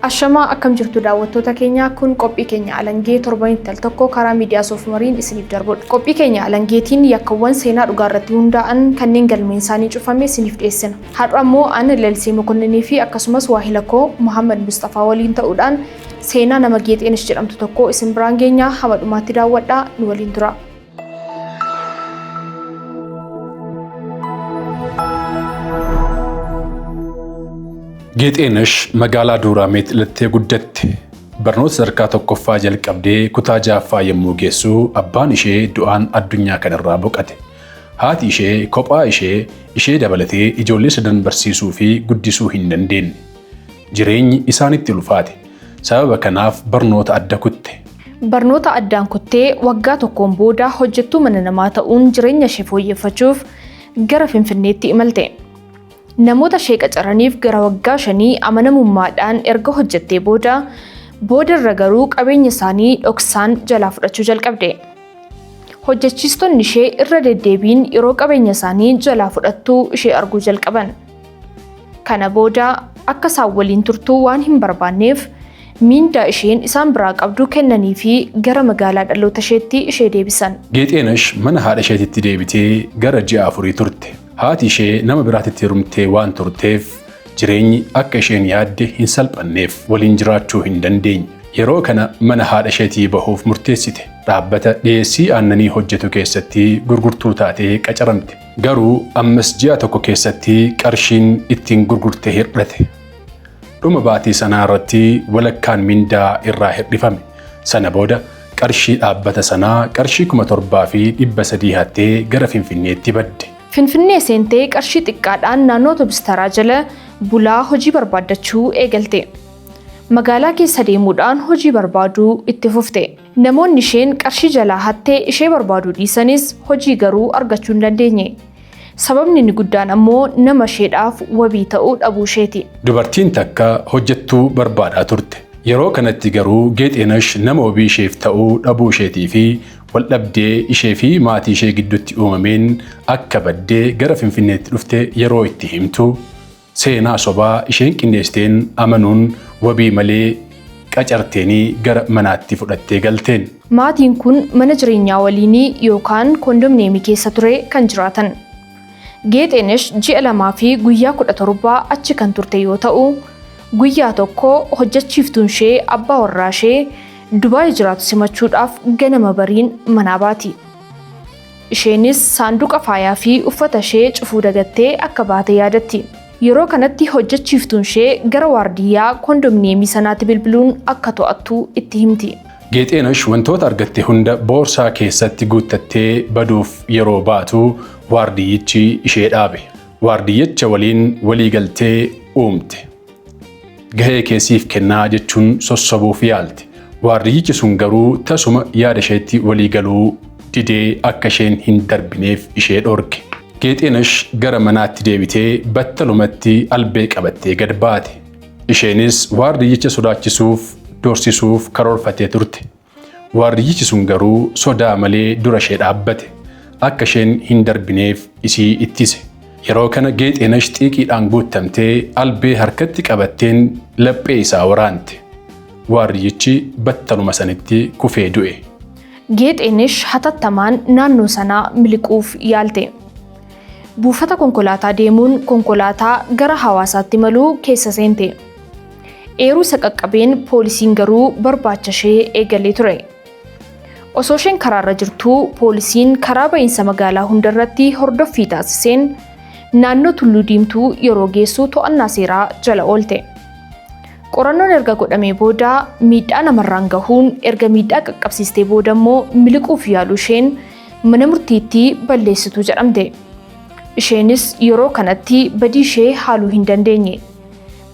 Ashamaa akkam jirtu daawwattoota keenya kun qophii keenya alangee torbanitti al tokko karaa miidiyaa soofumariin isiniif darbudha. Qophii keenya alangeetiin yakkawwan seenaa dhugaa irratti hundaa'an kanneen galmeen isaanii cufame isiniif dhiyeessina. Har'a immoo an Lalisee Mokonninii fi akkasumas waahila koo Muhammad Mustafaa waliin ta'uudhaan seenaa nama Geexeenis jedhamtu tokko isin biraan geenyaa hama dhumaatti daawwadhaa nu waliin tura. Geexeenash magaalaa Duuraameet dhalattee guddatte. Barnoota sadarkaa tokkoffaa jalqabdee kutaa jaaffaa yommuu geessu abbaan ishee du'aan addunyaa kanarraa boqate. Haati ishee kophaa ishee ishee dabalatee ijoollee sadan barsiisuu fi guddisuu hin dandeenye. Jireenyi isaanitti ulfaate. Sababa kanaaf barnoota adda kutte. Barnoota addaan kuttee waggaa tokkoon booda hojjettuu mana namaa ta'uun jireenya ishee fooyyeffachuuf gara Finfinneetti imalte. Namoota ishee qacaraniif gara waggaa shanii amanamummaadhaan erga hojjettee booda, boodarra garuu qabeenya isaanii dhoksaan jalaa fudhachuu jalqabde. Hojjechiistonni ishee irra deddeebiin yeroo qabeenya isaanii jalaa fudhattu ishee arguu jalqaban. Kana booda akka isaan waliin turtu waan hin barbaanneef miindaa isheen isaan biraa qabdu kennanii fi gara magaalaa dhaloota isheetti ishee deebisan. Geexeenash mana haadha isheetitti deebitee gara ji'a afurii turte. Haati ishee nama biraatitti heerumtee waan turteef jireenyi akka isheen yaadde hin salphanneef waliin jiraachuu hin dandeenye. Yeroo kana mana haadha isheetii bahuuf murteessite. Dhaabbata dhiyeessii aannanii hojjetu keessatti gurgurtuu taatee qacaramte. Garuu ammas ji'a tokko keessatti qarshiin ittiin gurgurte hirdhate. Dhuma baatii sanaa irratti walakkaan mindaa irraa hirdhifame. Sana booda qarshii dhaabbata sanaa qarshii kuma torbaa fi dhibba sadii hattee gara Finfinneetti badde. Finfinnee seentee qarshii xiqqaadhaan naannoo otobis taraa jala bulaa hojii barbaaddachuu eegalte. Magaalaa keessa deemuudhaan hojii barbaaduu itti fufte. Namoonni isheen qarshii jalaa hatte ishee barbaaduu dhiisanis hojii garuu argachuu hin dandeenye. Sababni inni guddaan ammoo nama isheedhaaf wabii ta'u dhabuu isheeti. Dubartiin takka hojjettuu barbaadaa turte. Yeroo kanatti garuu Geexeenash nama wabii isheef ta'u dhabuu isheetii fi waldhabdee ishee fi maatii ishee gidduutti uumameen akka badde gara Finfinneetti dhufte yeroo itti himtu, Seenaa sobaa isheen qindeessiteen amanuun wabii malee qacarteenii gara manaatti fudhattee galteen. Maatiin kun mana jireenyaa waliinii yookaan kondomneemii keessa ture kan jiraatan. Geexeenesh ji'a lamaa fi guyyaa 17 achi kan turte yoo ta'u, guyyaa tokko hojjachiiftuun ishee abbaa warraa ishee Dubaay jiraatu simachuudhaaf ganama bariin manaa baati. Isheenis saanduqa faayaa fi uffata ishee cufuu dagattee akka baate yaadatti. Yeroo kanatti hojjechiiftuun ishee gara waardiyyaa kondominiyeemii sanaatti bilbiluun akka to'attu itti himti. Geexeenash wantoota argatte hunda boorsaa keessatti guuttattee baduuf yeroo baatu waardiyyichi ishee dhaabe. Waardiyyicha waliin waliigaltee uumte. Gahee kee siif kennaa jechuun sossobuuf yaalti. Waardiyyichi sun garuu tasuma yaada isheetti walii galuu didee akka isheen hin darbineef ishee dhorke. Geexeenash gara manaatti deebitee battalumatti albee qabattee gad baate. Isheenis waardiyyicha sodaachisuuf, doorsisuuf karoorfattee turte. Waarriyyichi sun garuu sodaa malee dura ishee dhaabbate. Akka isheen hin darbineef isii ittise. Yeroo kana Geexeenash xiiqiidhaan guuttamtee albee harkatti qabatteen laphee isaa waraante. Waarriyyichi battaluma sanitti kufee du'e. Geexeenash hatattamaan naannoo sanaa miliquuf yaalte. Buufata konkolaataa deemuun konkolaataa gara Hawaasaatti imalu keessa seente. Eeruu isa qaqqabeen poolisiin garuu barbaacha ishee eegalee ture. Osoo isheen karaarra jirtuu poolisiin karaa ba'iinsa magaalaa hundarratti hordoffii taasiseen naannoo Tulluu Diimtuu yeroo geessu to'annaa seeraa jala oolte. Qorannoon erga godhamee booda miidhaa namarraan gahuun erga miidhaa qaqqabsiistee booda immoo miliquuf yaaluu isheen mana murtiitti balleessituu jedhamte. Isheenis yeroo kanatti badii ishee haaluu hin dandeenye.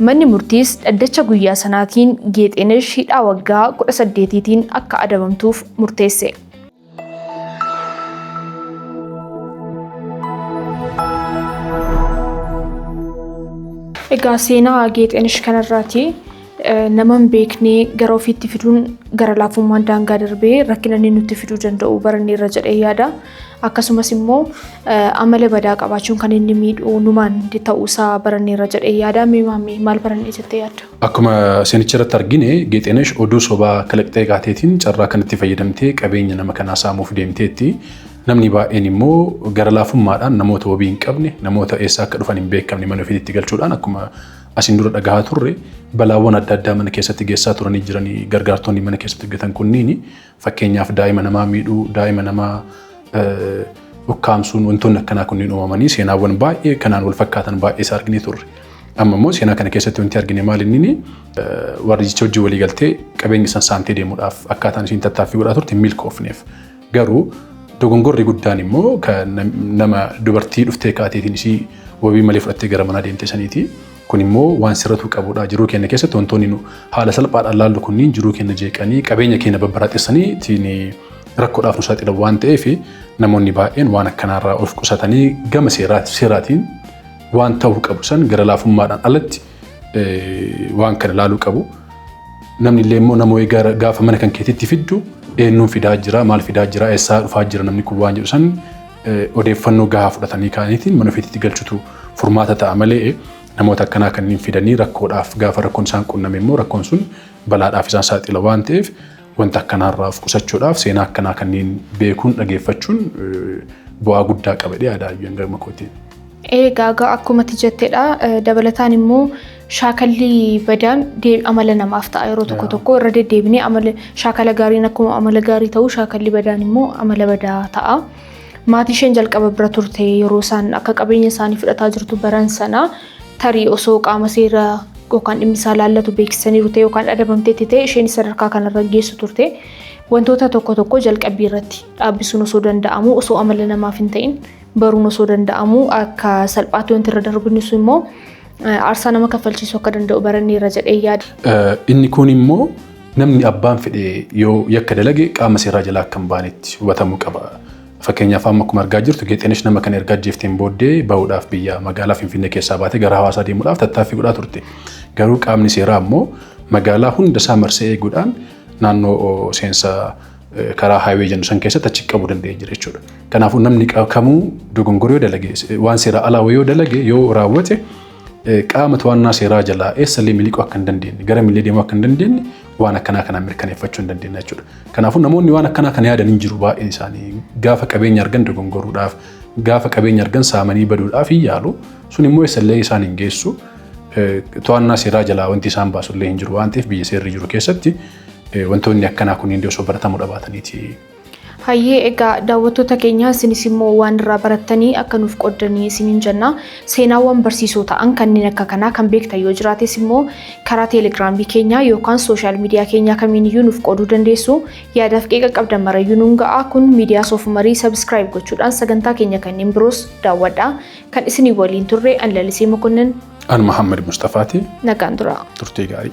Manni murtiis dhaddacha guyyaa sanaatiin Geexeenesh hidhaa waggaa 18tiin akka adabamtuuf murteesse. Egaa seenaa Geexeenesh kanarraati nama hin beekne gara ofiitti fiduun gara laafummaan daangaa darbee rakkina inni nutti fiduu danda'u baranneerra jedhee yaada. akkasumas immoo amala badaa qabaachuun kan inni miidhu numaan ta'uusaa baranneerra jedhee yaada. Mee maammee maal barannee jettee yaadda? Akkuma seenicha irratti argine Geexeenesh oduu sobaa kalaqxee gaateetiin carraa kanatti fayyadamtee qabeenya nama kanaa saamuuf deemteetti. Namni baay'een immoo gara laafummaadhaan namoota wabii hin qabne, namoota eessaa akka dhufan hin beekamne mana ofiitti galchuudhaan akkuma asiin dura dhagahaa turre balaawwan adda addaa mana keessatti geessaa turanii jiranii gargaartonni mana keessatti hojjetan kunniin Fakkeenyaaf daa'ima namaa miidhuu, daa'ima namaa ukkaamsuun wantoonni akkanaa kunniin uumamanii seenaawwan baay'ee kanaan wal fakkaatan baay'ee isaa arginee turre. Amma immoo seenaa kana keessatti wanti argine maal inni warri jecha hojii walii galtee qabeenya san saantee deemuudhaaf akkaataan isiin tattaaffii godhaa turte milkoofneef. Garuu dogongorri guddaan immoo kan nama dubartii dhuftee kaateetiin isii wabii malee fudhattee gara manaa deemte saniiti. Kun immoo waan sirratuu qabudha. Jiruu keenya keessatti wantoonni nu haala salphaadhaan laallu kunniin jiruu keenya jeeqanii qabeenya keenya babbaraaxessanii ittiin rakkoodhaaf nu saaxilan waan ta'eef namoonni baay'een waan akkanaarraa of qusatanii gama seeraati- seeraatiin waan ta'uu qabu san gara laafummaadhaan alatti eh, waan kana laaluu qabu. Namni illee immoo nama wayii gara- gaafa mana kan keetiitti fiddu eenyuun fidaa jira, maal fidaa jira, eessaa dhufaa jira namni kun waan jedhu san odeeffannoo gahaa fudhatanii kaaniitiin mana ofiitti galchutu furmaata ta'a malee namoota akkanaa kanneen fidanii rakkoodhaaf gaafa rakkoon isaan qunname immoo rakkoon sun balaadhaaf isaan saaxila waan ta'eef wanta akkanaarraa of qusachuudhaaf seenaa akkanaa kanneen beekuun dhageeffachuun bu'aa guddaa qaba jedhee yaada hayyuun gama kootiin. Ee gaagaa akkuma ati jettedha. Dabalataan immoo shaakalli badaan dee- amala namaaf ta'a yeroo tokko tokko irra deddeebinee amala shaakala gaariin akkuma amala gaarii ta'u shaakalli badaan immoo amala badaa ta'a. Maatii isheen jalqaba bira turte yeroo isaan akka qabeenya isaanii fudhataa jirtu baran sana tarii osoo qaama seera yookaan dhimmi isaa laallatu beeksisaniiru ta'e yookaan adabamteetti ta'e isheen sadarkaa kanarra hin geessu turte. Wantoota tokko tokko jalqabbii irratti dhaabbisuun osoo danda'amu osoo amala namaaf hin ta'in baruun osoo danda'amuu akka salphaatti wanti irra darbu inni sun immoo aarsaa nama kaffalchiisuu akka danda'u baranneerra jedhee yaada. Inni kun immoo namni abbaan fedhe yoo yakka dalage qaama seeraa jalaa akka hin baanetti hubatamuu qaba. Fakkeenyaaf amma akkuma argaa jirtu Geexeenesh nama kana erga ajjeefteen booddee bahuudhaaf biyya magaalaa Finfinnee keessaa baatee gara hawaasaa deemuudhaaf tattaaffii godhaa turte. Garuu qaamni seeraa immoo magaalaa hunda isaa marsee eeguudhaan naannoo seensa karaa haayiwee jennu san keessatti achi qabu danda'e jira jechuudha. Kanaafuu namni kamuu dogongora yoo dalage waan seeraa alaa yoo dalage yoo raawwate qaama to'annaa seeraa jalaa eessallee miliquu akka hin dandeenye gara millee deemuu akka hin dandeenye waan akkanaa kanaan mirkaneeffachuu hin dandeenye jechuudha. Kanaafuu namoonni waan akkanaa kana yaadan hin jiru baay'een isaanii gaafa qabeenya argan dogongoruudhaaf gaafa qabeenya argan saamanii baduudhaaf hin yaalu sun immoo eessallee isaan hin geessu to'annaa seeraa jalaa wanti isaan baasullee hin jiru waan ta'eef biyya seerri jiru keessatti Wantoonni akkanaa kunniin osoo baratamuu dhabaataniiti. Hayyee egaa daawwattoota keenya isinis immoo waan irraa barattanii akka nuuf qoddanii isiniin jenna. Seenaawwan barsiisoo ta'an kanneen akka kanaa kan beektan yoo jiraates immoo karaa teelegiraamii keenyaa yookaan sooshaal miidiyaa keenyaa kamiin iyyuu nuuf qooduu dandeessu. Yaadaaf qeeqa qabdan marayyuu nuun ga'a. Kun miidiyaa soofumarii sabiskiraayib gochuudhaan sagantaa keenya kanneen biroos daawwadha. Kan isinii waliin turre ani Lalisee Mokonnin. An Mahammad Mustafaati. Nagaan turaa. Turtii gaarii.